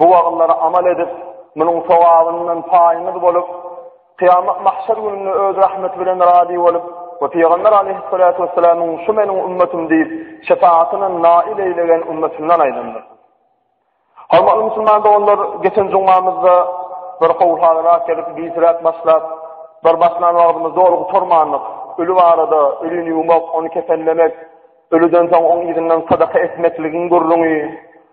Bu wagyzlara amal edip, munuň sogabyndan paýymyz bolup, kyýamat mahşer gününde Öz rahmeti bilen razy bolup we Pygamber aleýhissalatu wessalamyň şu meniň ümmetym diýip, şepagatyndan nail eýlegen ümmetçinden aýlandyr. Hormatly musulman doganlar, geçen jumamyzda bir gowy hazyrat gelip, gijräk başlap, bir başlan wagtymyz doly gutarmandyk. Öli barada, ölini ýuwmak, ony kefenlemek, ölüden soň oň yzyndan sadaka etmekligiň gürrüňi,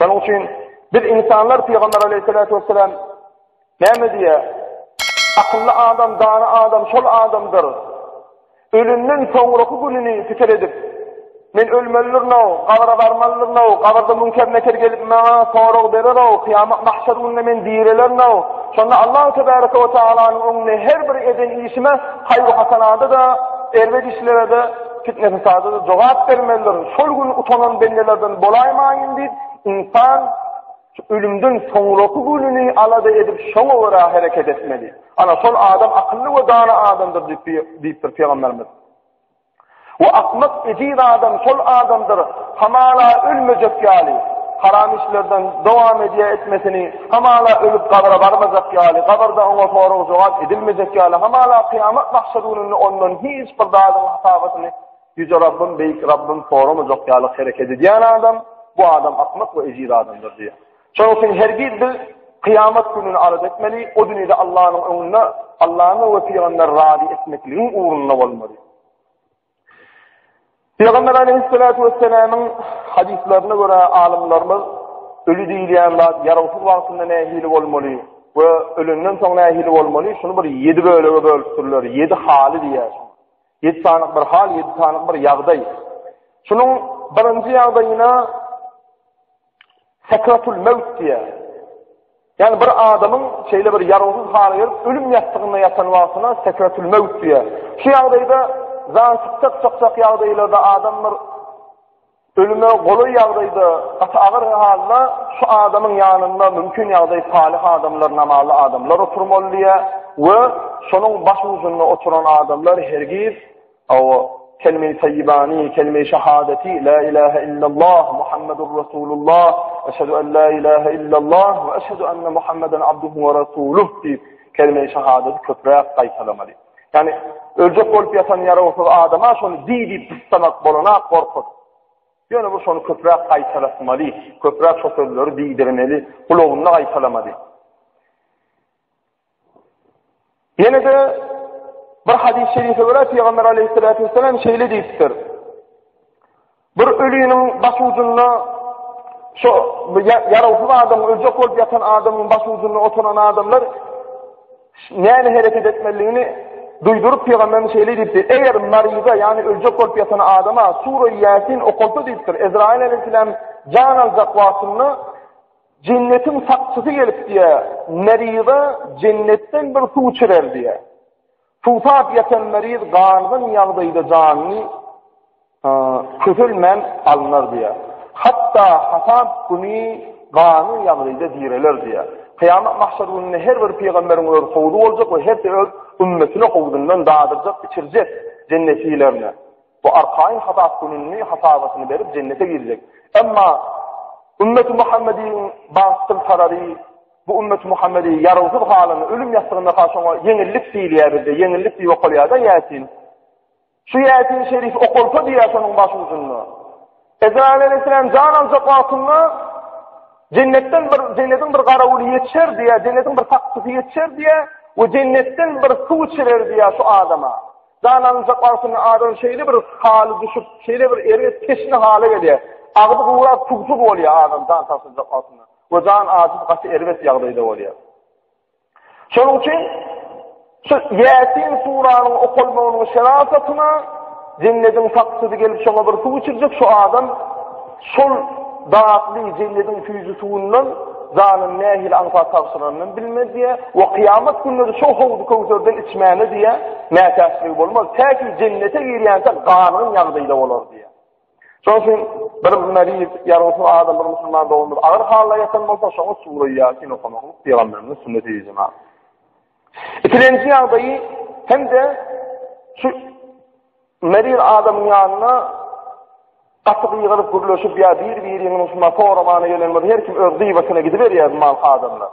Şonuň üçin biz ynsanlar pygamber aleýhissalatu wesselam näme diýýär? Akylly adam, dana adam şol adamdyr. Ölünden soňraky gününi pikir edip, Men ölmelirno, gabra barmalyrno, gabrda münker neker gelip maňa sorag berero, kıyamet mahşer günde men dirilerno. Şonda Allah tebaraka ve taalanyň öňünde her bir eden işime hayr hasanada da, erbet işlere de Fitne-fesada-da jogap bermelidir. Şol gün utanan bendelerden bolaýmaýyn diýip, ynsan şu ölümden soňraky gününi alada edip, şoňa görä hereket etmeli. Ana, şol adam akylly we dana adamdyr diýip, diýipdir Pygamberimiz. We akmak ejiz adam şol adamdyr, hamala ölmejek ýaly, haram işlerden dowam edýär etmesini, Hamala ölüp gabra barmajak ýaly, gabyrda oňa sorag-jogap edilmejek ýaly, hamala kyýamat mahşer gününde ondan hiç bir zadyň hasabatyny Ýüze Rabbym, Beýik Rabbym soramajak ýaly hereket edýän adam, bu adam akmak we ejiz adamdyr diýýär. Şonuň üçin hergiz biz kyýamat gününi arz etmeli, o dünýäde Allanyň öňünde Allany we pygamberi razy etmekligiň ugrunda bolmaly. Peygamber aleyhissalatu vesselamyň hadislaryna görä alymlarymyz ölü diýilýän zat ýarawsyz wagtynda nähili bolmaly we ölenden soň nähili bolmaly şuny bir 7 bölege bölüpdirler. 7 haly diýýär. 7 sany bir hal, 7 sany bir ýagdaý. Şunuň birinji ýagdaýyna Sekratul mewt diýär. Ýani bir adamyň şeýle bir ýarawsyz hala gelip, ölüm ýassygynda ýatan wagtyna sekratul mewt diýär. Şu ýagdaýda jan çykjak çykjak ýagdaýlarda adam bir ölüme golaý ýagdaýda gaty agyr halda şu adamyň ýanynda mümkin ýagdaý salyh adamlar, namazly adamlar oturmaly diýär we şonuň baş ucunda oturan adamlar hergiz Hawa, kelime-i taýýibany, kelime-i şahadaty, Lä ilähe illallah, Muhammedur Resulullah, Eşhedü en lä ilähe illallah we eşhedü enne Muhammeden abduhu we resuluh diýip, kelime-i şahadaty köpräk gaýtalamaly. Ýagny, öljek bolup ýatan ýarawsyz adama şony diý diýip gyssamak bolana gorkut. Ýöne bu şony köpräk gaýtalatmaly, köpräk şo sözleri diýdirmeli, gulagynda gaýtalamaly. Ýene de bir hadis-i şerife görä Peygamber aleyhissalatu vesselam şeýle diýipdir. Bir ölüniň baş ucunda şu ýarawsyz adam öljek bolup ýatan adamyň baş ucunda oturan adamlar näme hereket etmeliligini duýduryp Peygamberimiz şeýle diýipdir. Eger maryza, ýagny öljek bolup ýatan adama sura Ýasin okulsa diýipdir. Ezrail aleyhissalam jan aljak wagtynda Jennetiň sakçysy gelip diýýär, Merize jennetden bir suw içirer diýýär. Suwsap ýatan meriz gangyň ýagdaýda janyny kötelmän alnar diýýär. Hatda hasap güni ganyň ýagdaýda direler diýýär. Kyýamat mahşer gününde her bir pygamberiň öz howzy boljak we hersi öz ümmetine howzundan dadyrjak, içirjek, jennet iýlerini. Bu arkaýyn hasap gününde hasabatyny berip jennete girjek. Emma Ümmeti Muhammediň bagtly tarary bu Ümmeti Muhammedi ýarawsyz halynda ölüm ýassygynda ha şoňa ýeňillik diýilýär bizde, ýeňillik diýip okalýar-da Ýasin. Şu Ýasin şerif okalsa diýýär şonuň başujunda. Ezraýyla nesinem jan aljak wagtynda Jennetden bir jennetiň bir garawuly ýetişer diýä, jennetiň bir sakçysy ýetişer diýä we jennetden bir suw içirer diýä şu adama. Jan alynjak wagtynda adam şeýle bir haly düşüp, şeýle bir erbet teşne hala gelýär. Agzy gurap suwsuz bolýar adam jan tapynjak wagtynda. We jan azyp gaty erbet ýagdaýda bolýar. Şonuň üçin şu Ýasin suranyň okalmagynyň şerasatyna jennediň sakçysy gelip şoňa bir suw içirjek şu adam şol datly jennediň süýji suwundan janyny nähili aňsat tabşyranyny bilmez diýe we kyýamat günleri şo howzy köwserden içmäne diýe mätäçligi bolmaz. Täki jennete girýänçä gangyň ýagdaýda bolar diýe. Şonuň üçin bir meriz, ýa-da şu adam bir musulman doganymyz agyr halda ýatan bolsa, şoňa sure Ýasin okamak pygamberimiziň sünneti diýdi jemagat. Ikilenji ýagdaýy hem-de şu meriz adamyň ýanyna gaty gygyryp gürleşip ýa bir-biriňiň şuna soramana gelen bir her kim öz gybatyna gidiberýär mal adamlar.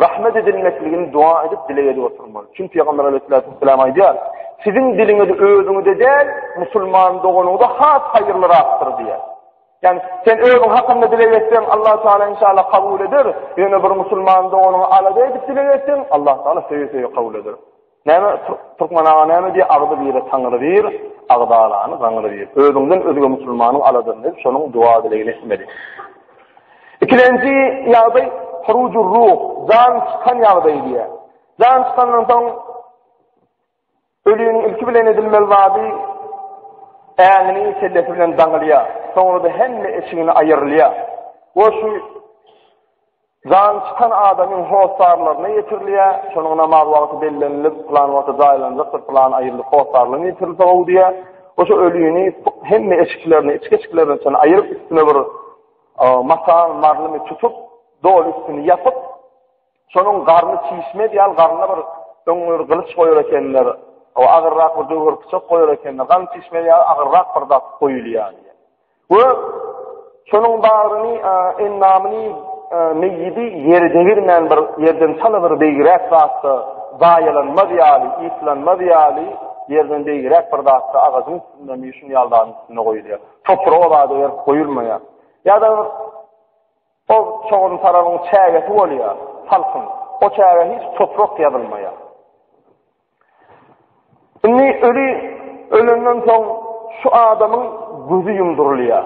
Rahmet edilmekligini dua edip dileg edip oturmaly. Çünki Peygamber Aleyhisselatü Vesselam aýdýar, siziň diliňiz özüňize däl, musulman doganyňyza has haýyrlyrakdyr diýýär. Yani sen özün hakkında dileg etsen Allah Teala inşallah kabul eder. Yöne bir musulman doğanı alada edip dileg etsen Allah Teala söye söye kabul eder. Näme Türkmen aga näme diýýär agzy bire taňry bir agzalany gaňry bir özüňden özge musulmanyň aladyn diýip şonuň duwa dilegini etmeli. Ikilenji ýagdaý hurujur ruh jan çykan ýagdaýy diýýär. Jan çykandan soň ölüniň ilki bilen edilmeli zady äňini kellesi bilen daňylýar. Soňra da hemme eşigini aýyrylýar. O şu Jany çykan adamyň hossarlaryna ýetirilýär, şonuň namaz wagty bellenilip, pylan wagta jaýlanjakdyr, pylan aýyrlyk hossarlaryna ýetirilse gowy diýýär. Oşo ölini hemme eşiklerini, içki-eşiklerini çenli aýryp, üstüne bir matan, marlymy tutup, doly üstüni ýapyp, şonuň garny çişme edýär, garnyna bir öň bir gylyç goýar ekenler, agyrrak bir döwür pyçak goýar ekenler, gan çişme edýär, agyrrak bir zat goýulýar. We şonuň bagryny, endamyny, meýidi ýere degirmän bir ýerden çala bir beýigräk zatda zaýalanmaz ýaly, ýitlanmaz ýaly ýerden beýigräk bir zatda agajyň üstündemi, şuny ýaly zadyň üstünde goýulýar. Topragy o zada berip goýulmaýar. Ýa-da bir o çogan tarabyň çägesi bolýar, salkyn. O çägä hiç toprak ýazylmaýar. Indi öli ölenden soň şu adamyň gözi ýumdurylýar.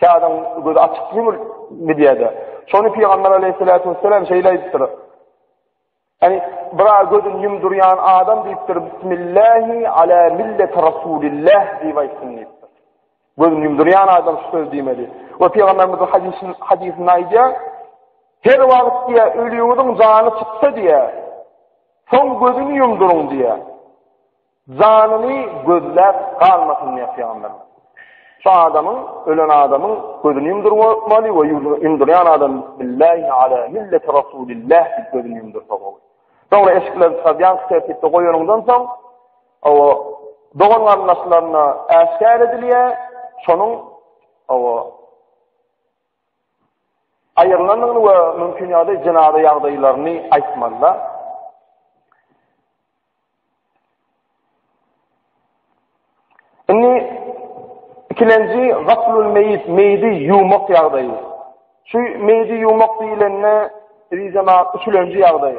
Kädäň gözi açyk ýumul gidýär-de. Şony pygamber aleýhissalatu wessalam şeýle aýdypdyr. Ýani bir gözüni ýumdurýan adam diýipdir, Bismillahi ala milleti Rasulillah diýip aýtsyn diýipdir. Gözüni ýumdurýan adam şu sözi diýmeli. We pygamberimiz hadisin hadisinde aýdýar, her wagt diýä ölüňiziň jany çyksa diýä, soň gözüni ýumduryň diýä. Janyny gözläp galmasyn diýä pygamber. Şu adamyň, ölen adamyň gözüni ýumdurmaly we ýumdurýan adam billahi ala milleti rasulillah diýip gözüni ýumdursa bol. Soňra eşikleri çykýan tertipde goýanyňdan soň Hawa, dogan-garyndaşlaryna äşgär edilýär, şonuň, hawa, aýrylandygyny we mümkin ýagdaý jenaza ýagdaýlaryny aýtmazlar. Indi ikilenji gaslul meýit, meýidi ýumak ýagdaýy. Şu meýidi ýumak diýilende, rizema üçülenji ýagdaý.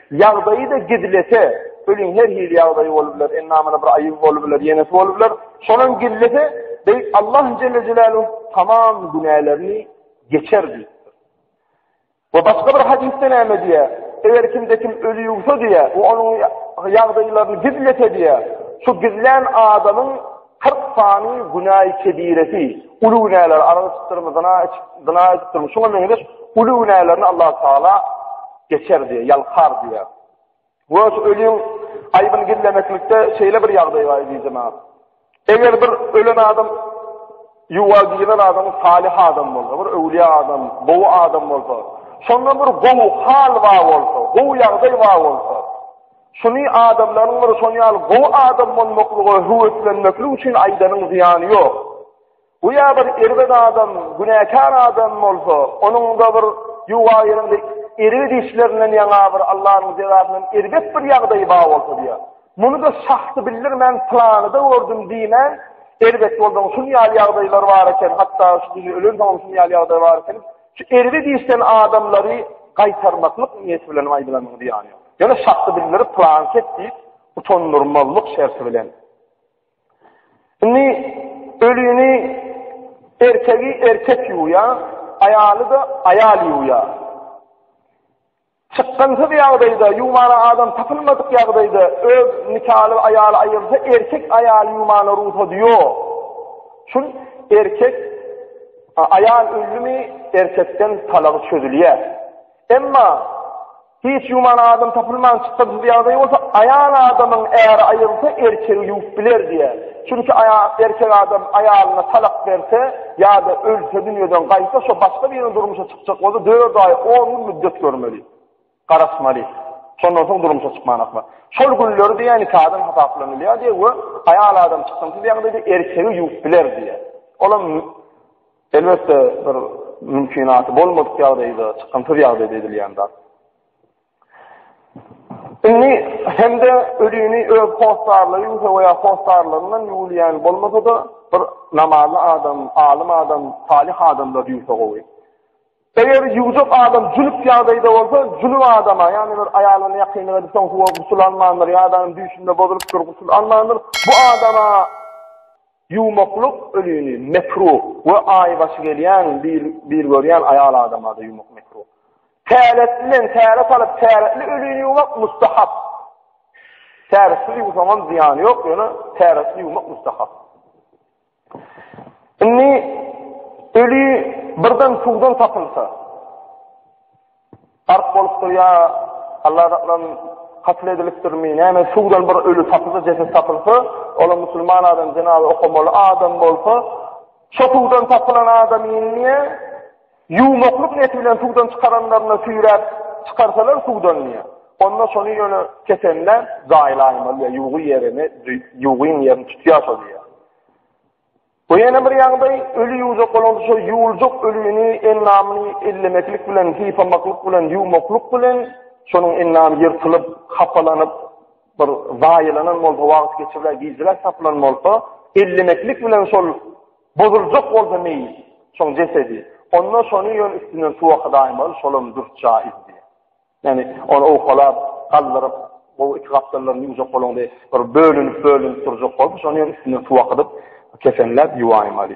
Ýagdaýy-da gizlese, ölüň her hili ýagdaýy bolup biler, endamyna bir aýyby bolup biler, ýenesi bolup biler. Şonam gizlese, beýik Allah jelle jelaluhu tamam günälerini geçer diýipdir. We başga bir hadisde näme diýýär? Eger kimde kim öli ýuwsa diýýär, we onuň ýagdaýlaryny gizlese diýýär, şu gizlän adamyň Kyrk sany günäi kebiresi, uly günäleri, arag içipdirim, zyna zyna edipdirim, şuňa meňzeş uly günälerini Allah Taala geçer diýýär, ýalkar diýýär. We şu ölüň aýbyny gizlemeklikde şeýle bir ýagdaý bar diýdi jemaat. Eger bir ölen adam ýuwa giren adam salih adam bolsa, bir öwliýa adam, gowy adam bolsa, şonda bir gowy hal bar bolsa, gowy ýagdaý bar bolsa, Şuny adamlaryň bir şon ýaly gowy adam bolmaklyga höweslenmeklik üçin aýdanyň zyýany ýok. Göýä bir erbet adam, günäkär adam bolsa, onuň-da bir ýuwaýyrynda erbet işlerinden ýaňa bir Allanyň jezasyndan erbet bir ýagdaýy bar bolsa diýýär. Muny-da şahsy bildirmän pylanyda gördüm diýmän, erbet bolsaň şun ýaly ýagdaýlar bar eken, hatda şu günü ölensoň şun ýaly ýagdaý bar eken. Şu erbet işden adamlary gaýtarmaklyk niýeti bilen aýdylanyň zyýany ýok. Ýöne şahsy bildiri planket diýip utandyrmazlyk şerti bilen. Indi ölüni erkegi erkek ýuwýa, aýaly da aýal ýuwýa. Çykgynsyz ýagdaýda, ýuwmana adam tapylmadyk ýagdaýda öz nikaly aýaly aýyrsa, erkek aýaly ýuwmana rugsady ýok. Şul erkek aýal ölümi erkekden talagy çözülýär. Emma Hiç ýuwman adam tapylman çykgynsyz ýagdaý bolsa, aýal adamyň äri aýrylsa, erkegi ýuwup biler diýýär. Çünki aýal, erkek adam aýalyna talak berse ýa-da ölse dünýeden gaýsa, şo başga birine durmuşa çykjak bolsa dört aý, on gün müddet görmeli. Garaşmaly. Şondan soň durmuşa çykman asla. Şol günleri diýýär nikadan hasaplanylýar diýýär we aýal adam çykgynsyz ýagdaýda erkegi ýuwup biler diýýär. Olam Elbetde bir mümkinaty bolmadyk ýagdaýda, çykgynsyz ýagdaýda edilýän zat. Indi hem-de ölini öz hossarlary ýuwsa we ýa hossarlaryndan ýuwulýan bolmasa-da, bir namazly adam, alym adam, salyh adamlar ýuwsa gowy. Eger ýuwjak adam jünüp ýagdaýda bolsa, jünüp adama, ýagny bir aýalyna ýakynlyk edip, soň suwa gusl almandyr ýa-da düýşünde bozulypdyr, gusl almandyr, bu adama, Ýumaklyk ölini mekruh we aý başy gelýän bir görýän aýal adamada ýumak mekruh. Täretlinden täret alyp täretli ölini ýumak mustahap. Täretsiz ýuwsaňam zyýany ýok, ýöne täretli ýumak mustahap. Indi öli birden suwdan tapylsa, Gark bolup durýar, Allah daklan katyl edilipdirmi, näme suwdan bir öli tapylsa, jeset tapylsa, olam musulman adam, jenaza okamaly adam bolsa, şo suwdan tapylan adam indi ýuwmaklyk niýeti bilen suwdan çykaranlaryna süýräp çykarsalar suwdan diýýär. Onda şony ýöne kesende jaýlaýmaly, ýuwgy ýerini, ýuwgyň ýerini tutýar şo diýýär. Bu ýene bir ýagdaý, öli ýuwjak bolanda şol ýuwuljak ölini, endamyny ellemeklik bilen, sypamaklyk bilen, ýuwmaklyk bilen şonuň endamy ýyrtylyp, hapalanyp, bir zaýalanan bolsa, wagt geçiriler, gijräk tapylan bolsa, ellemeklik bilen şol bozuljak bolsa meýit, şoň jesedi, onda şony ýöne üstünden suw akadaýmaly, şolam dürs jaýyz diýýär. Ýani ony owkalap, galdyryp, gowy iki gapdallaryn ýuwjak bolanda bir bölünip-bölünip durjak bolup, şony hem üstünden suw akydyp, kesenläp ýuwaýmaly.